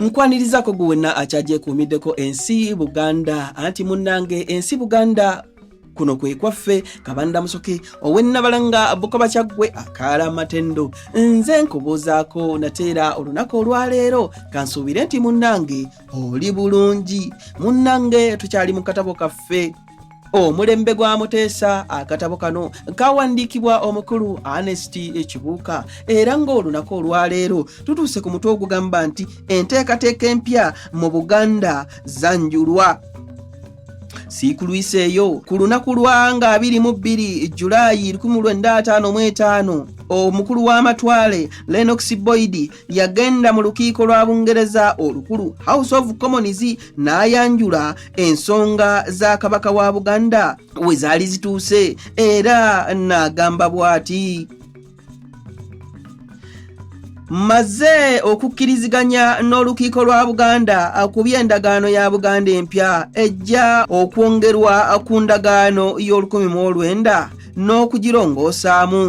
nkwanirizako gwe wenna akyagyekuumiddeko ensi buganda anti munnange ensi buganda kuno kwe kwaffe kabanda musoke owennabalanga bukoba kyaggwe akaala matendo nze nkubuuzaako nateera olunaku olwaleero kansuubire nti munnange oli bulungi munnange tukyali mu katabo kaffe omulembe gwa muteesa akatabo kano kawandiikibwa omukulu anest ekibuuka era ng'olunaku olwaleero tutuuse ku mutwe ogugamba nti enteekateeka empya mu buganda zanjulwa siikulwiseeyo ku lunaku lwa nga 22 julayi 1555 omukulu w'amatwale lenox boyidi yagenda mu lukiiko lwa bungereza olukulu house of commons n'ayanjula ensonga za kabaka wa buganda we zaali zituuse era n'agamba bw'ati maze okukkiriziganya n'olukiiko lwa buganda ku by'endagaano ya buganda empya ejja okwongerwa ku ndagaano y'olukumi mu olwenda n'okugirongoosaamu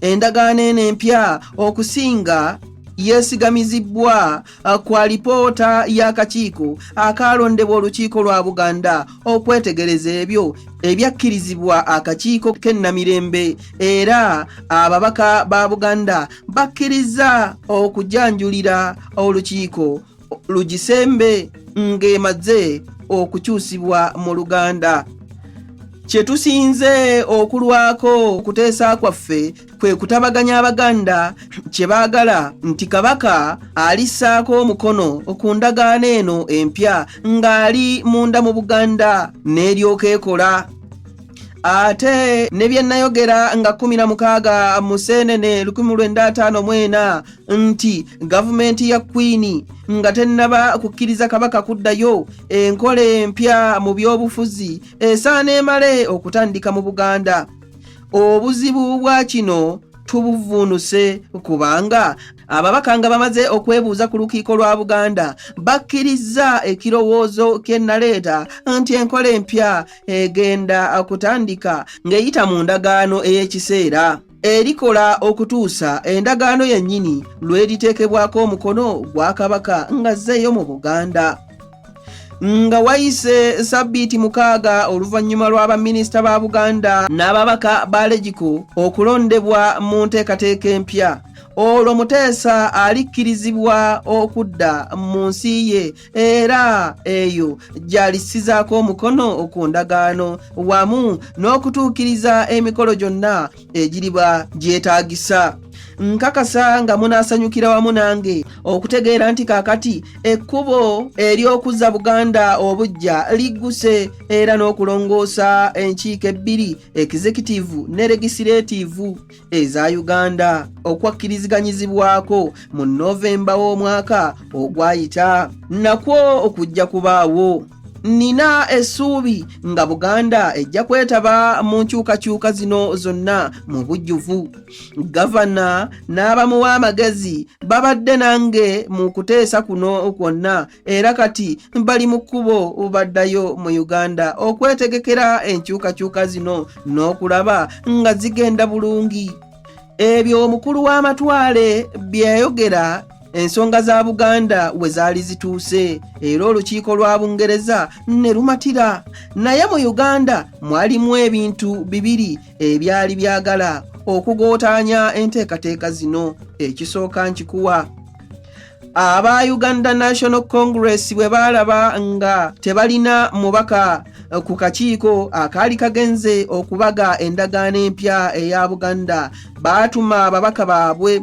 endagaano eno empya okusinga yeesigamizibbwa uh, ku alipoota y'akakiiko akaalondebwa olukiiko lwa buganda okwetegereza ebyo ebyakkirizibwa akakiiko k'ennamirembe era ababaka ba buganda bakkirizza okujanjulira olukiiko lugisembe ng'emaze okukyusibwa mu luganda kye tusinze okulwako okuteesa kwaffe kwe kutabaganya abaganda kye baagala nti kabaka alissaako omukono ku ndagaano eno empya ng'ali munda mu buganda n'eryoka ekola ate ne bye nnayogera nga 16 mu seenene 1954 nti gavumenti ya kwiini nga tennaba kukkiriza kabaka kuddayo enkola empya mu byobufuzi esaana emale okutandika mu buganda obuzibu bwa kino tubuvuunuse kubanga ababaka nga bamaze okwebuuza ku lukiiko lwa buganda bakkirizza ekirowoozo kyennaleeta nti enkola empya egenda kutandika ng'eyita mu ndagaano ey'ekiseera erikola okutuusa endagaano yennyini lw'eriteekebwako omukono gwa kabaka ng'azzeeyo mu buganda nga wayise sabbiiti mukaaga oluvannyuma lwa baminisita ba buganda n'ababaka ba legiko okulondebwa mu nteekateeka empya olwo muteesa alikkirizibwa okudda mu nsi ye era eyo gyalisizaako omukono ku ndagaano wamu n'okutuukiriza emikolo gyonna egiriba gyetaagisa nkakasa nga munaasanyukira wamu nange okutegeera nti kaakati ekkubo ery'okuzza buganda obujja ligguse era n'okulongoosa enkiiko ebbiri ekizekitivu ne legisiretivu eza uganda okwakkiriziganyizibwako mu novemba w'omwaka ogwayita nakwo okujja kubaawo nina essuubi nga buganda ejja kwetaba mu nkyukakyuka zino zonna mu bujjuvu gavana n'abamuwa amagezi babadde nange mu kuteesa kuno kwonna era kati bali mu kkubo baddayo mu uganda okwetegekera enkyukakyuka zino n'okulaba nga zigenda bulungi ebyo omukulu w'amatwale byeyayogera ensonga za buganda we zaali zituuse era olukiiko lwa bungereza ne lumatira naye mu uganda mwalimu ebintu bibiri ebyali byagala okugootaanya enteekateeka zino ekisooka nkikuwa aba uganda national congress bwe baalaba nga tebalina mubaka eh, ku kakiiko akaali ah, kagenze okubaga endagaano empya eya buganda baatuma ababaka baabwe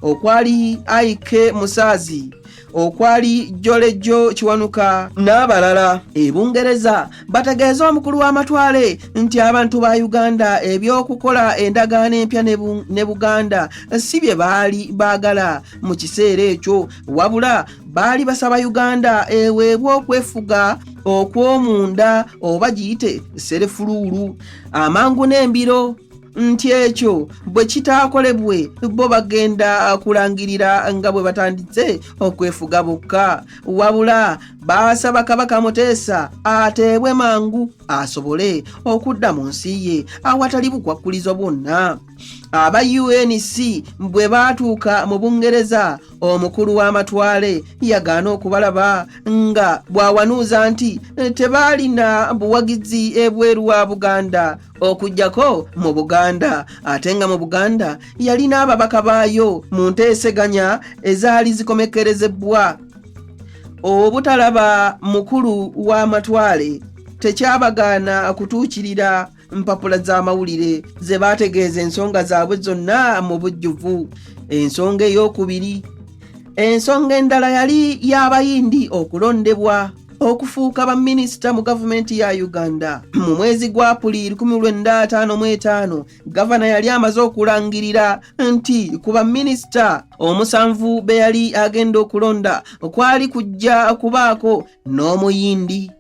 okwali aike musaazi okwali jolejo kiwanuka n'abalala ebungereza bategeeza omukulu w'amatwale nti abantu ba uganda eby'okukola endagaano empya ne buganda si bye baali baagala mu kiseera ekyo wabula baali basaba uganda eweebwa okwefuga okw'omunda oba giyite serefuluulu amangu n'embiro nti ekyo bwe kitaakolebwe bo bagenda kulangirira nga bwe batanditse okwefuga bokka wabula baasaba kabaka muteesa ateebwe mangu asobole okudda mu nsi ye awatali bukwakkulizo bwonna aba unc bwe baatuuka mu bungereza omukulu w'amatwale yagaana okubalaba nga bw'awanuuza nti tebaalina buwagizi ebweru wa buganda okujjako mu buganda ate nga mu buganda yalina ababaka baayo mu nteeseganya ezaali zikomekkerezebbwa obutalaba mukulu w'amatwale tekyabagaana kutuukirira mpapula z'amawulire ze baategeeza ensonga zaabwe zonna mu bujjuvu ensonga ey'okubiri ensonga endala yali y'abayindi okulondebwa okufuuka baminisita mu gavumenti ya uganda mu mwezi gwa apuli 1955 gavana yali amaze okulangirira nti ku baminisita omusanvu be yali agenda okulonda kwali kujja kubaako n'omuyindi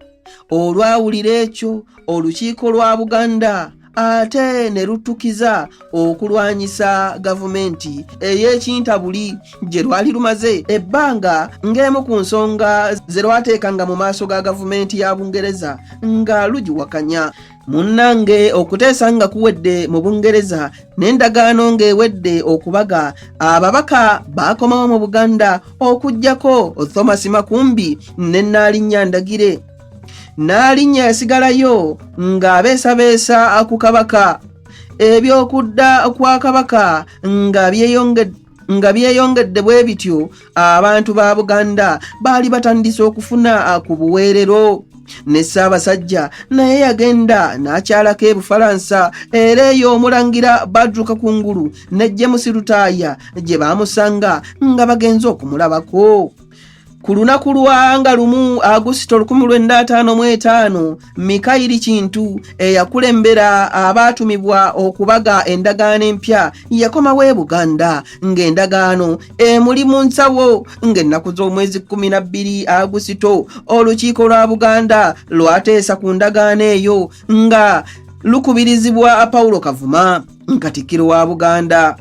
olwawulira ekyo olukiiko lwa buganda ate ne luttukiza okulwanyisa gavumenti ey'ekintabuli gye lwali lumaze ebbanga ng'emu ku nsonga ze lwateekanga mu maaso ga gavumenti ya bungereza nga lugiwakanya munnange okuteesa nga kuwedde mu bungereza n'endagaano ng'ewedde okubaga ababaka baakomawo mu buganda okugyako thomas makumbi ne nnaalinya ndagire n'alinnya yasigalayo ng'abeesabeesa ku kabaka eby'okudda kwa kabaka nga byeyongedde nga byeyongedde bwe bityo abantu ba buganda baali batandise okufuna ku buweerero ne ssaabasajja naye yagenda n'akyalako ebufalansa era eyo omulangira badruka ku ngulu ne jemusi lutaaya gye baamusanga nga bagenze okumulabako ku lunaku lwanga lumu agusito 1555 mikayiri kintu eyakulembera abaatumibwa okubaga endagaano empya yakomawo e buganda ng'endagaano emuli mu nsawo ng'ennaku z'omwezi 12 agusito olukiiko lwa buganda lwateesa ku ndagaano eyo nga lukubirizibwa paulo kavuma katikkiro wa buganda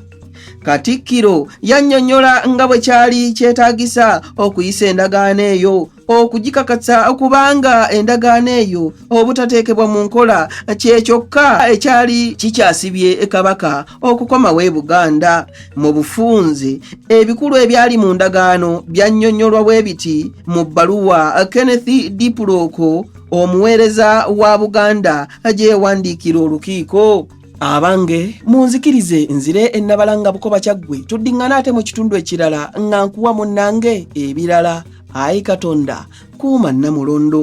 katikkiro yannyonnyola nga bwe kyali kyetaagisa okuyisa endagaano eyo okugikakatsa kubanga endagaano eyo obutateekebwa mu nkola kye kyokka ekyali kikyasibye kabaka okukomawo e buganda mu bufunze ebikulu ebyali mu ndagaano byannyonnyolwa bwe biti mu bbaluwa kenneth dipuloko omuweereza wa buganda gyeyawandiikira olukiiko abange munzikirize nzire ennabalanga bukoba kyaggwe tuddiŋŋana ate mu kitundu ekirala nga nkuwa munnange ebirala ayi katonda kuuma nnamulondo